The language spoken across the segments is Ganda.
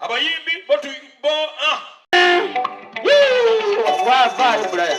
abayimbi bo tu bo ah wa va tu bulaya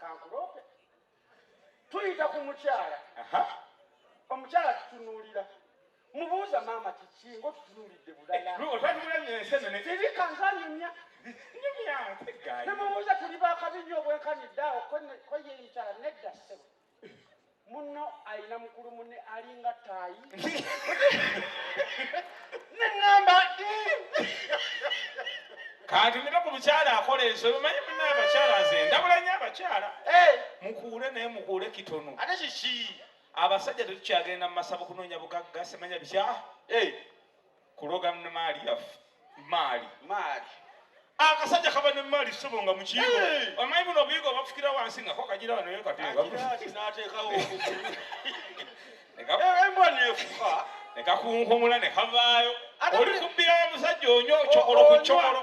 kankuloope tuyita ku mukyala omukyala tutunuulira mubuuza maama kiki ngaotutunuulidde bulalaebikanzanyumya nemubuuza tuli bakabi nyo obwenkanidde awo koyeyikyala nedda sebo Munno alina mukulu munne alinga ttaayi. Ne ŋŋamba Kanti nina ku mukyala akola ensobi omanyi munna abakyala nze ndabula nnyo abakyala eh, mukuule naye mukuule kitono ate kiki? abasajja tetukyagenda mu masabo kunoonya bugagga semanya bikya Eh, kuloga maali yaffe maali maali akasajja kaba ne maali ssebo nga mukiigo amanyi buno obuyigo obafukira wansi nga kokagira wano yo kateekateekawo embwa nefuka nekakunkumula nekavaayo oli kubbira musajja onyo cokolo ku cokolo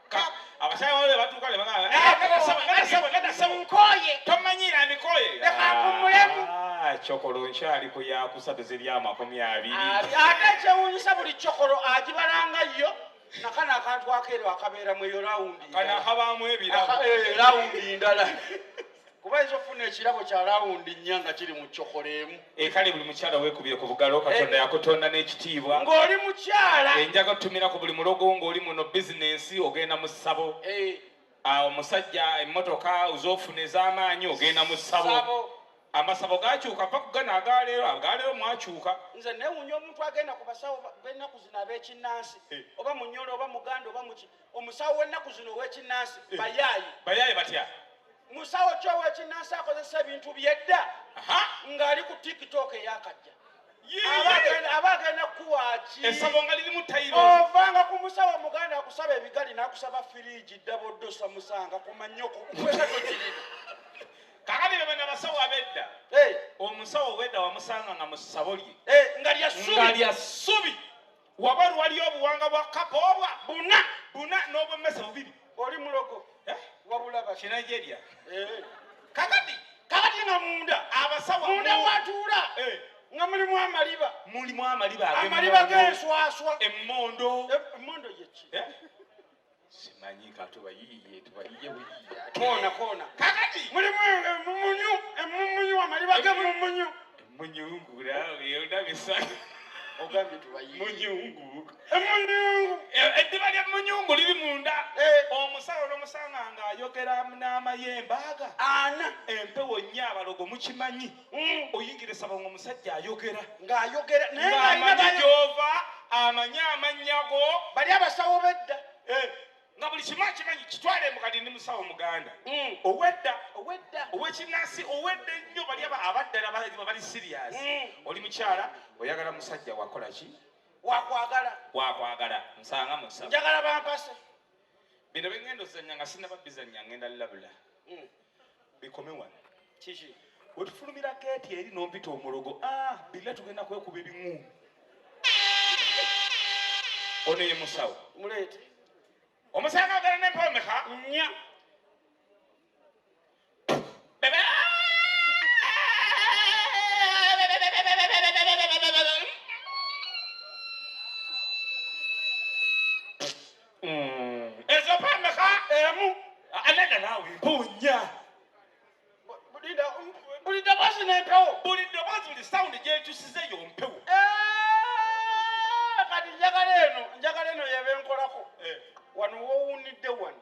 abasajja bano batuuka ne bagamba nkoye tomanyiira mikoye leka nkummulemu ah, cokolo nkyali ku yakusatu ziri amakumi abiri ah, ate ekyewuunyisa buli cokolo agibalanga yo nakano akantu akeero akabeeramu eyo lawundi kanakabamu ebirabo eh, lawundi ndala kuba ayinza okufuna ekirabo kya lawundi nnya nga kiri mu cokola emu ekale eh, buli mukyala wekubire ku bugalo katonda eh. yakutonda n'ekitiibwa ng'oli mukyala enjaga eh, otumira ku buli mulogo ng'oli muno bizinensi ogenda mu ssabo ah, omusajja emmotoka ozofuna ez'amaanyi ogenda mu ssabo amasabo gakyuka mpa kugana agaleero agaleero mwakyuka nze newunya omuntu agenda ku basawo benaku zino ab'ekinnansi oba munyolo oba muganda oba muki omusawo w'ennaku zino ow'ekinnansi eh. bayaaye bayaaye batya musawo ki ow'ekinnansi akozesa ebintu byedda ng'ali ku tiktok eyakajja aba agenda kuwaaki esabo nga lirimu tayiro ovanga ku musawo muganda akusaba ebigali n'akusaba firiigi ddaboddo samusanga kumanyoko kwekatokirira kakati bebe nabasawo abedda omusawo obwedda wamusanga nga musabo lye eh, nga lya ssubi Wabweru waliyo obuwanga bwa kapa obwa buna buna n'obwemmese bubiri. Oli mulogo eh? wabula ba Kinigeria eh. kakati kakati nga munda abasawa munda watuula eh. nga mulimu amaliba mulimu amaliba amaliba g'enswaswa emmondo emmondo yeki simanyi katuba yiye tuba yiye wiye kona kona kakati mulimu emumunyu emumunyu amaliba ge mumunyu emunyungura yona bisa ogambye tuba yiye munyungu emunyungu eddiba lya munyungu liri munda omusawo nomusanga nga ayogera n'amayembe aga ana empewo nnyo abalogo mukimanyi mm. oyingire saba nga omusajja ayogera ng'ayogera nayeamanyi gyova amanyi amanyago bali abasawo bedda eh, nga buli kimu akimanyi kitwale mukadi ndi musawo muganda mm. owedda owedda owekinansi owedda ennyo bali abaddala bali sirias mm. oli mukyala oyagala musajja wakola ki wakwagala wakwagala nsanga musa njagala bampase bino bengenda ozanya nga sinababizanya ngenda labula bikome wano kiki wetufulumira geeti eri nompita omulogo ah, billa tugenda kwekuba ebimu ono ye musawo muleete omusanga agala nempomeka nya ezo pameka emu anada naawe mpunya buli ddoboozi n'empewo buli ddoboozi buli sawundi gyekyusiza eyo mpewo kati njagala eno njagala eno yebenkolako wano wowunidde wano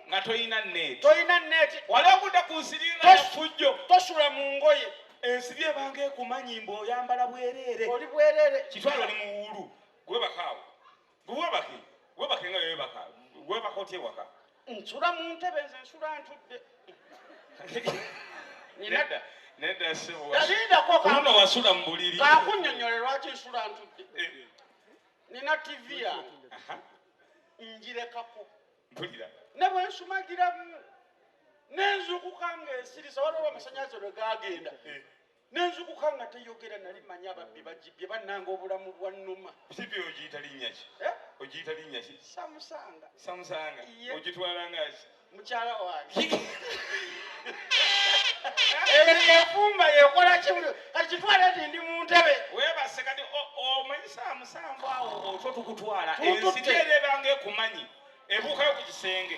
nga tolina neeti tolina neeti wali okudda ku nsiri nga yafujjo tosula mu ngoye ensiri ebanga ekumanyi mbu oyambala bwereere oli bwereere kitwalo oli muwuulu gwebakaawo gwebake gwebake nga yewebaka gwebaka otya ewaka nsula mu ntebe nze nsula ntudde nedda nedda seboyalindako kuluno wasula mu buliri kakunyonyole lwaki nsula ntudde eh. nina tv yange njirekako mpulira ne bwe nsumagiramu ne nzukuka ng'ensiriza waliwo amasanyalaze lwe gaagenda eh. ne nzukuka nga teyogera nali manyi ababbi bagibye bannanga obulamu bwa nnuma sipi ogiyita linnya ki eh? ogiyita linnya ki samusanga samusanga ogitwala nga ki mukyala wange eyo nefumba yekola kimu kati kitwale nti ndi mu ntebe weebase kati omanyi saa musanvu awo otwo tukutwala ensiti era ebanga ekumanyi ebuukayo ku kisenge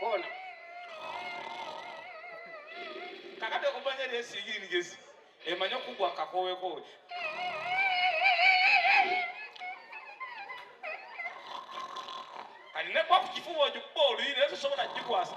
koona kakati okumanya lyesiyiri nigezi emanye okugwa kakowekoowe kati nekwakukifuba ogikuba oluyi naye tosobola kugikwasa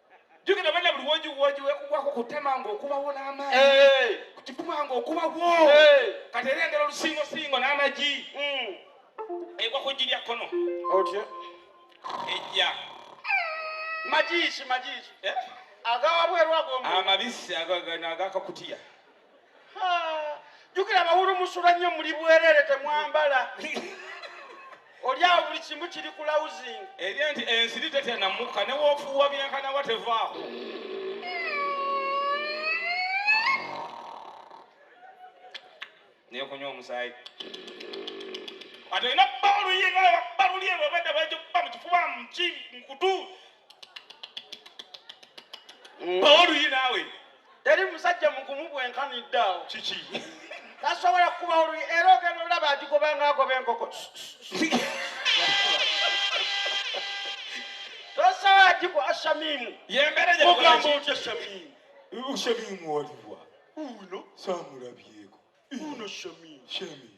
jukira bana buli wojiwoji wekugwako kutema nga okubawo n'amaanyi eh. kukifuma nga okubawo eh. kati era engera olusingosingo n'amagi hmm. egwa ku jji lya kkono otya ejja magiiki magiiki eh? agawabwerwago amabisi agakakutiya jukira abawulu musula nnyo muli bwerere temwambala oli awo buli kimu kiri ku lausing eri nti ensiri tetya namukka newofuuwa byenkanawa tevaawo nekunywa omusaayi ate olina bba oluyinga balulyebwebadda bajja okuba mu kifuba muki mukutu mm. oluyi naawe teri musajja mugumu bwenkanidde awo kiki tasobola kukuba oluyi era ogenda olaba agigoba nga agoba enkoko tosobola giku ashamimu yemberemugambo otya shamimu shamimu waliwa uno samulabyeko uno shamimu shamimu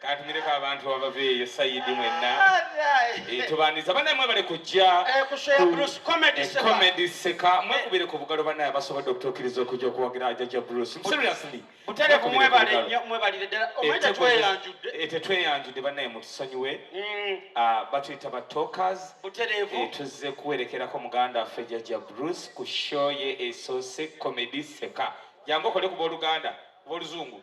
kantumireko abantu abaveeyo sayidi mwenna eh, tubandiza banaye mwebale kujja eh, comedy seka eh. mwekubire ku bugalo banaye abasobodde okutuukiriza okujja okuwagira ajaja bruce seriously buterevu mwebale nnyo mwebalire ddala omweta tweyanjudde tetweyanjudde banaye mutusonyiwe mm. ah, batuyita ba talkers buterevu tuzze kuwerekerako muganda waffe jaja bruce ku show ye esoose comedy seka jangu okole ku booluganda booluzungu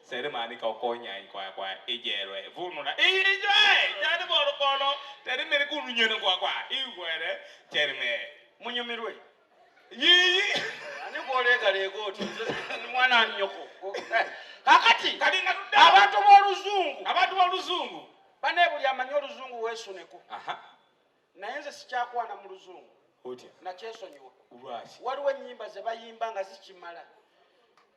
Selemani kokonya kwa kwa ijerwe vunula ijwe jani bolo bolo teri meri kunu nyene kwa kwa iwere teri me munyomirwe yiyi ani kwoleka lego tu mwana nyoko kakati kalinga tudda abantu b'oluzungu abantu b'oluzungu bane buli amanyi oluzungu weesuneko naye nze sikyakwana mu luzungu nakyesonyiwa waliwo ennyimba ze bayimba nga zikimala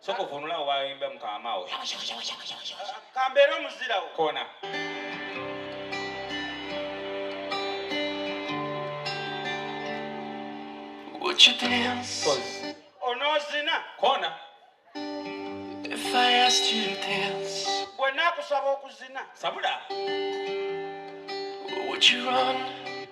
Soko vunula waimba mkamao. Kambera muzira wo. Kona. Would you dance? Pause. Onozina. Kona. If I asked you to dance. Bwe nakusaba okuzina. Sabula. Would you run?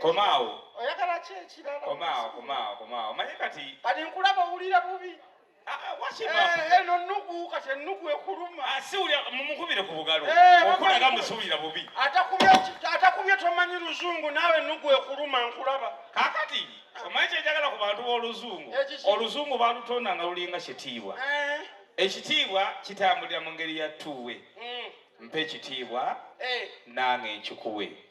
komaawo oyagala ki ekirala komaawo komaawo komaawo manye kati kati nkulaba owulira bubi ah, ah, eh, eno nnugu kati ennugu ekuluma ah, siwulira mumukubire ku bugalo eh, okulaga musiwulira bubi atakubye tomanyi luzungu naawe ennugu ekuluma nkulaba kakati omanyi kyenjagala ku bantu b'oluzungu oluzungu balutonda nga lulinga kitiibwa eh. ekitiibwa kitambulira mu ngeri ya tuwe mm. mpa ekitiibwa nange nkikuwe